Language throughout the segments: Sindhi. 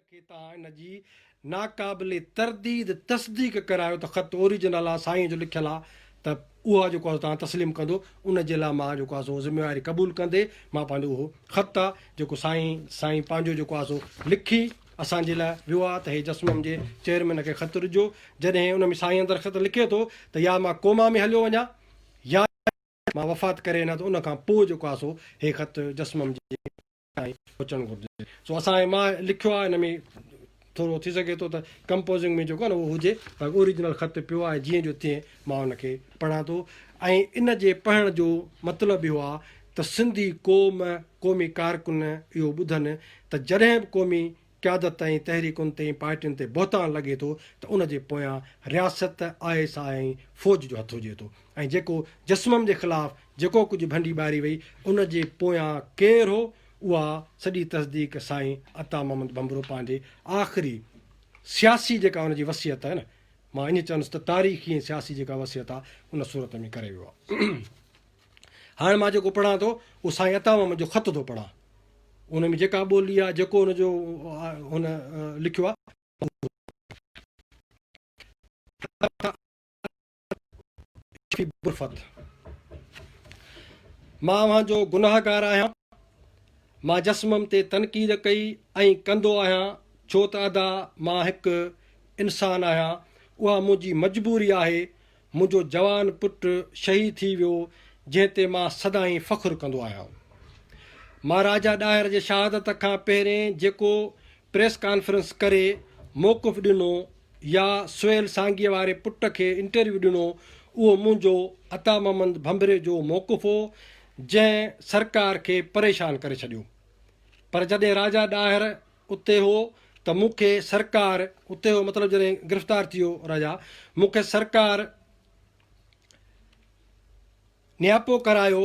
کي تان ان جي ناقابل ترديد تصديق ڪرايو ته خط اوريجنل آ سائين جو لکيل آ ته اها جيڪو آ تان تسليم ڪندو ان جي لاء مان جيڪو آ سو ذميواري قبول ڪندي مان پنهنجو اهو خط آ جيڪو سائين سائين پنهنجو جيڪو آ سو لکي اسان جي لاء ويو آ ته هي جسمم جي چيئرمين کي خط ڏجو جڏهن ان ۾ سائين اندر خط لکي ٿو ته يا مان ڪوما ۾ هليو وڃان يا مان وفات ڪري وڃان ته ان کان پوء جيڪو آ سو هي خط جسمم جي تائين پهچڻ گهرجي. سو اسان ۽ مان لکيو آهي ان ۾ ٿورو ٿي سگهي ٿو ته ڪمپوزنگ ۾ جيڪو آهي نه اهو هجي باقي اوريجنل خط پيو آهي جيئن جو تيئن مان ان کي پڙهان ٿو ۽ ان جي پڙهڻ جو مطلب اهو آهي ته سنڌي قوم قومي ڪارڪن اهو ٻڌن ته جڏهن به قومي قيادت ۽ تحريڪن تي ۽ پارٽين تي بهتان لڳي ٿو ته ان جي پويان رياست، آء ايس آء ۽ فوج جو هٿ هجي ٿو ۽ جيڪو جسمم جي خلاف جيڪو ڪجهه ڀنڊي ٻاري وئي ان جي پويان ڪير هو اها سڄي تصديق سائين عطا محمد ڀنڀرو پنهنجي آخري سياسي جيڪا ان جي وصيت آهي نه مان ائين چوندس ته تاريخي ۽ سياسي جيڪا وصيت آهي ان صورت ۾ ڪري ويو آهي. هاڻ مان جيڪو پڙهان ٿو، اهو سائين عطا محمد جو خط ٿو پڙهان. ان ۾ جيڪا ٻولي آهي، جيڪو ان جو هن لکيو آهي، اهو ٿو پڙهان. مان اوهان جو گناهگار آهيان. مان جسمم تي تنقيد ڪئي ۽ ڪندو آهيان، ڇو ته ادا مان هڪ انسان آهيان. اها منهنجي مجبوري آهي، منهنجو جوان پٽ شهيد ٿي ويو جنهن تي مان سدائين فخر ڪندو آهيان. مان راجا ڏاهر جي شهادت کان پهرين جيڪو پريس ڪانفرنس ڪري موقف ڏنو يا سهيل سانگيء واري پٽ کي انٽرويو ڏنو اهو منهنجو عطا محمد ڀنڀري جو موقف هو جنهن سرڪار کي پريشان ڪري ڇڏيو پر جڏهن راجا ڏاهر اتي هو ته مون کي سرڪار اتي هو مطلب جڏهن گرفتار ٿيو راجا مون کي سرڪار نياپو ڪرايو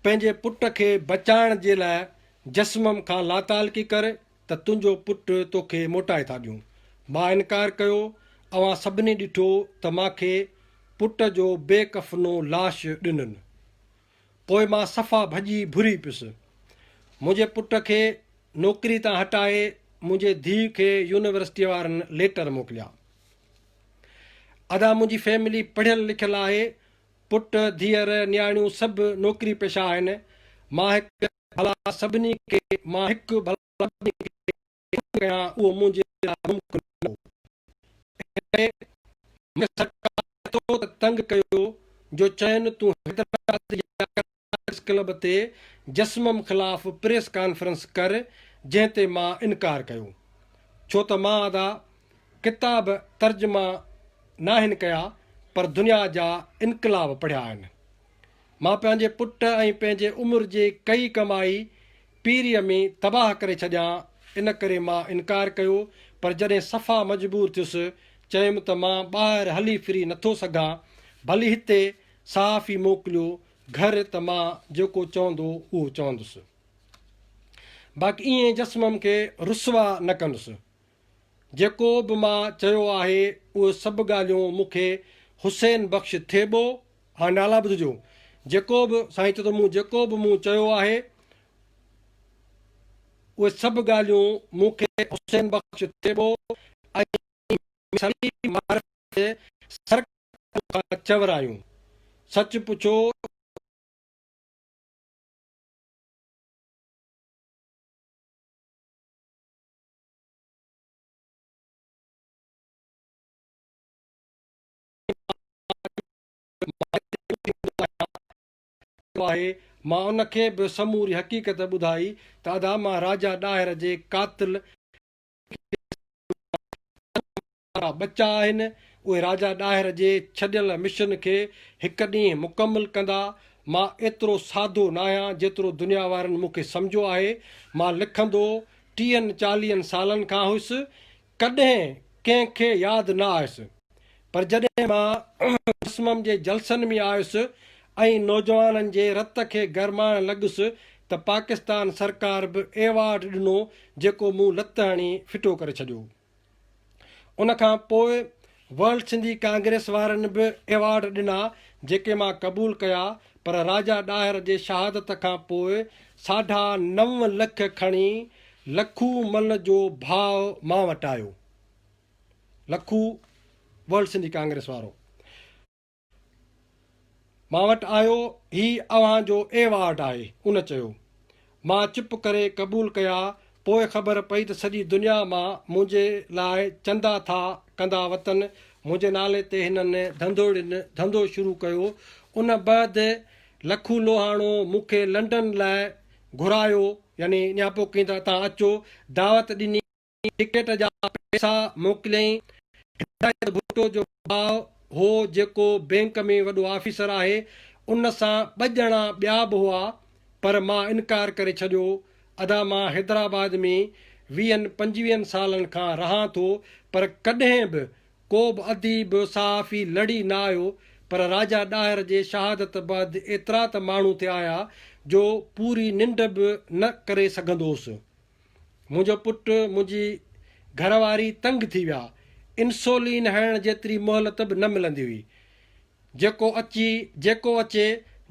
پنهنجي پٽ کي بچائڻ جي لاء جسمم کان لاتعلقي ڪر ته تنهنجو پٽ توکي موٽائي ٿا ڏيون مان انڪار ڪيو اوهان سڀني ڏٺو ته مان کي پٽ جو بي ڪفنو لاش ڏنن پوء مان صفا ڀڄي ڀري پيس. منهنجي پٽ کي نوڪري تان هٽائي منهنجي ڌيء کي يونيورسٽيء وارن ليٽر موڪليا. ادا منهنجي فيملي پڙهيل لکيل آهي، پٽ، ڌيئر، نياڻيون سڀ نوڪري پيشا آهن، مان هڪ ڀلا سڀني کي مان هڪ ڀلا سڀني کي. ان ڪري اهو منهنجي لاء ممڪن نه هو. ان ڪري مون کي سرڪار ايترو ته تنگ ڪيو جو چين تون حيدرآباد جي ڪرڪيٽس ڪلب تي جسمم خلاف پريس ڪانفرنس ڪر جنهن تي مان انڪار ڪيو ڇو ته مان ادا ڪتاب ترجما ناهن ڪيا پر دنيا جا انقلاب پڙهيا آهن. مان پنهنجي پٽ ۽ پنهنجي عمر جي ڪئي ڪمائي پيريء ۾ تباهه ڪري ڇڏيان، ان ڪري مان انڪار ڪيو، پر جڏهن صفا مجبور ٿيس، چيم ته مان ٻاهر هلي ڦري نٿو سگهان، ڀلي هتي صحافي موڪليو گهر ته مان جيڪو چوندو اهو چوندس. باقي ائين جسمم کي رسوا نه ڪندس. جيڪو به مان چيو آهي اهي سڀ ڳالهيون مون کي حسين بخش ٿيٻو. هاڻي نالا ٻڌجو. جيڪو به سائين چيو ته مون جيڪو به مون چيو آهي اهي سڀ ڳالهيون مون کي حسين بخش ٿيٻو ۽ سليم معرفت جي سر ڪنڌ کان چورايون. سچ پڇو ته. ڪيو آهي، مان ان کي به سموري حقيقت ٻڌائي ته ادا مان راجا ڏاهر جي قاتل کي سزا ڏياريندس. وارا ٻچا آهن، اهي راجا ڏاهر جي ڇڏيل مشن کي هڪ ڏينهن مڪمل ڪندا. مان ايترو ساڌو ناهيان جيترو دنيا وارن مون کي سمجهيو آهي. مان لکندو ٽيهن چاليهن سالن کان هيس. ڪڏهن ڪنهن کي ياد نه آيس. پر جڏهن مان رسمم جي جلسن ۾ آيس ۽ نوجوانن جي رت کي گرمائڻ لڳس ته پاڪستان سرڪار به ايوارڊ ڏنو جيڪو مون لت هڻي ڦٽو ڪري ڇڏيو. ان کان پوء ورلڊ سنڌي ڪانگريس وارن به ايوارڊ ڏنا جيڪي مان قبول ڪيا پر راجا ڏاهر جي شهادت کان پوء ساڍا نو لک کڻي لکو مل جو ڀاء مان وٽ آيو لکو ورلڊ سنڌي ڪانگريس وارو مان وٽ آيو، هي اوهان جو ايوارڊ آهي. ان چيو. مان چپ ڪري قبول ڪيا، پوء خبر پئي ته سڄي دنيا مان منهنجي لاء چندا ٿا ڪندا وتن، منهنجي نالي تي هنن ڌنڌوڙين ڌنڌو شروع ڪيو، ان بعد لکو لوهاڻو مون کي لنڊن لاء گهرايو يعني اڃا پوکين ته اتان اچو دعوت ڏني، ٽڪيٽ جا پئسا موڪليائين. هدايت ڀٽو جو ڀاء هو جيڪو بئنڪ ۾ وڏو آفيسر آهي، ان سان ٻه ڄڻا ٻيا به هئا پر مان انڪار ڪري ڇڏيو. ادا مان حيدرآباد ۾ ويهن پنجويهن سالن کان رهان ٿو پر ڪڏهن به ڪو به اديب صحافي لڙي نه آيو پر راجا ڏاهر جي شهادت بعد ايترا ته ماڻهو ٿي آيا جو پوري ننڊ به نه ڪري سگهندوس. منهنجو پٽ، منهنجي گهر واري تنگ ٿي ويا. انسولين هڻڻ جيتري مهلت به نه ملندي هئي. جيڪو اچي جيڪو اچي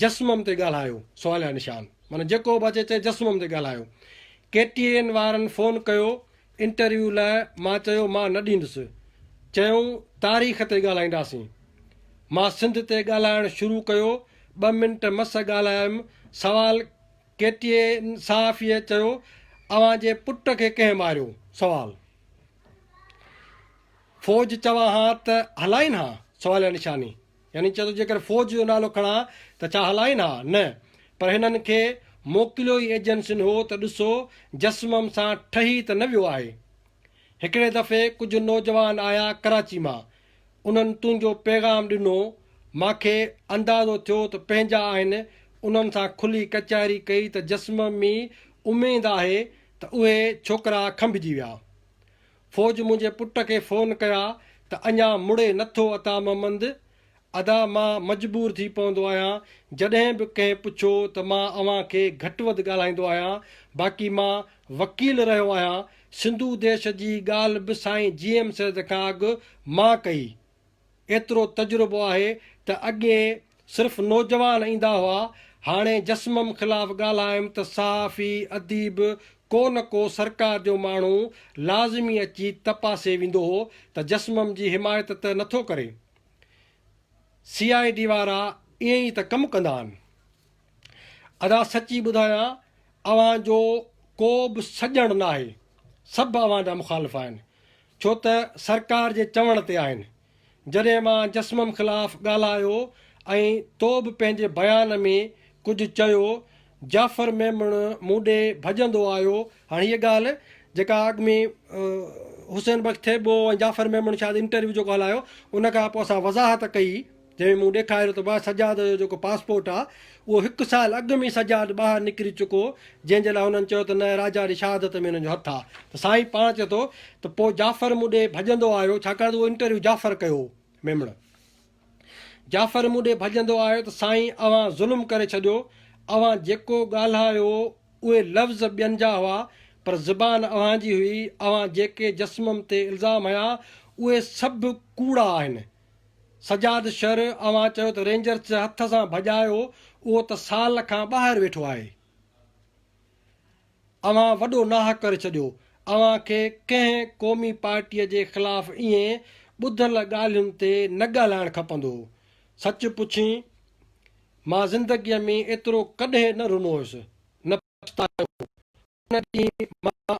جسمم تي ڳالهايو سواليا نشان معنيٰ جيڪو به اچي چئي جسمم تي ڳالهايو. ڪي ٽي اين وارن فون ڪيو انٽرويو لاء مان چيو مان نه ڏيندس. چيائون تاريخ تي ڳالهائينداسين. مان سنڌ تي ڳالهائڻ شروع ڪيو ٻه منٽ مس ڳالهايم سوال ڪي ٽي اين صحافيء چيو اوهان جي پٽ کي ڪنهن ماريو؟ سوال فوج چوان ها ته هلائين ها؟ سواليه نشاني يعني چيو ته جيڪر فوج جو نالو کڻان ته ڇا هلائين ها؟ نه پر هنن کي موڪليو ئي ايجنسين هو ته ڏسو جسمم سان ٺهي ته نه ويو آهي. هڪڙي دفعي ڪجهه نوجوان آيا ڪراچي مان انهن تنهنجو پيغام ڏنو، مان کي اندازو ٿيو ته پنهنجا آهن، انهن سان کلي ڪچهري ڪئي ته جسم ۾ اميد آهي ته اهي ڇوڪرا کنڀجي ويا. فوج منهنجي پٽ کي فون ڪيا ته اڃا مڙي نه ٿو عطا محمد؟ ادا مان مجبور ٿي پوندو آهيان، جڏهن به ڪنهن پڇيو ته مان اوهان کي گهٽ وڌ ڳالهائيندو آهيان، باقي مان وڪيل رهيو آهيان، سنڌو ديش جي ڳالهه به سائين جي ايم سيد کان اڳ مان ڪئي. ايترو تجربو آهي ته اڳي صرف نوجوان ايندا هئا، هاڻي جسمم خلاف ڳالهايم ته صحافي، اديب، ڪو نه ڪو سرڪار جو ماڻهو لازمي اچي تپاسي ويندو هو ته جسمم جي حمايت ته نٿو ڪري. سي آء ڊي وارا ائين ئي ته ڪم ڪندا آهن. ادا سچي ٻڌايان اوهان جو ڪو به سڄڻ ناهي سڀ اوهان جا مخالف آهن ڇو ته سرڪار جي چوڻ تي آهن جڏهن مان جسمم خلاف ڳالهايو ۽ تو به پنهنجي بيان ۾ ڪجهه چيو جعفر ميمڻ مون ڏي ڀڄندو آيو هاڻ هيء ڳالهه جيڪا اڳ ۾ حسين بخش ٿيٻو ۽ جعفر ميمڻ شايد انٽرويو جيڪو هلايو ان کان پوء اسان وضاحت ڪئي جنهن ۾ مون ڏيکاريو ته ڀاء سجاد جو جيڪو پاسپورٽ آ اهو هڪ سال اڳ ۾ ئي سجاد ٻاهر نڪري چڪو هو جنهن جي لاء هنن چيو ته نه راجا جي شهادت ۾ هن جو هٿ آ ته سائين پاڻ چئي ٿو ته پوء جعفر مون ڏي ڀڄندو آيو ڇاڪاڻ ته اهو انٽرويو جعفر ڪيو هو ميمڻ جعفر مون ڏي ڀڄندو آيو ته سائين اوهان ظلم ڪري ڇڏيو اوهان جيڪو ڳالهايو اهي لفظ ٻين جا هئا پر زبان اوهان جي هئي اوهان جيڪي جسمم تي الزام هنيا اهي سڀ ڪوڙا آهن سجاد شر، اوهان چيو ته رينجرز جي هٿ سان ڀڄايو، اهو ته سال کان ٻاهر ويٺو آهي. اوهان وڏو ناحق ڪري ڇڏيو. اوهان کي ڪنهن قومي پارٽيء جي خلاف ائين ٻڌل ڳالهين تي نه ڳالهائڻ کپندو هو. سچ پڇين، مان زندگيء ۾ ايترو ڪڏهن نه رنو هيس، نه پڇتايو. ان ڏينهن مان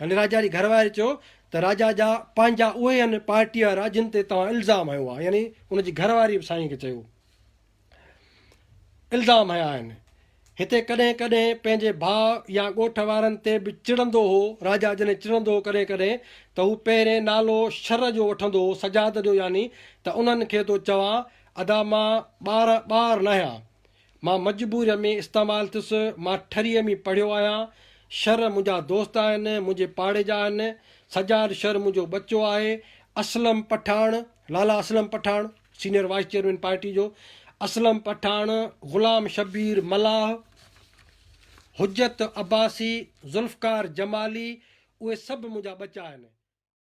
يعني راجا جي گهر واري چيو ته راجا جا پنهنجا اهي هن پارٽيء وارا جن تي توهان الزام هنيو آهي يعني ان جي گهر واري به سائينء کي چيو الزام هنيا آهن. هتي ڪڏهن ڪڏهن پنهنجي ڀاء يا ڳوٺ وارن تي به چڙندو هو. راجا جڏهن چڙندو هو ڪڏهن ڪڏهن ته هو پهرين نالو شر جو وٺندو هو سجاد جو يعني ته انهن کي ٿو چوان ادا مان ٻارهن ٻار ناهيان مان مجبوريء ۾ استعمال ٿيس، مان ٺريء ۾ پڙهيو آهيان، شر منهنجا دوست آهن، منهنجي پاڙي جا آهن، سجاد شر منهنجو ٻچو آهي، Aslam Pathan, Lala Aslam Pathan, senior vice chairman party جو، اسلم پٺاڻ، غلام شبير ملاح، حجت عباسي، ذوالفقار جمالي، اهي سڀ منهنجا ٻچا آهن.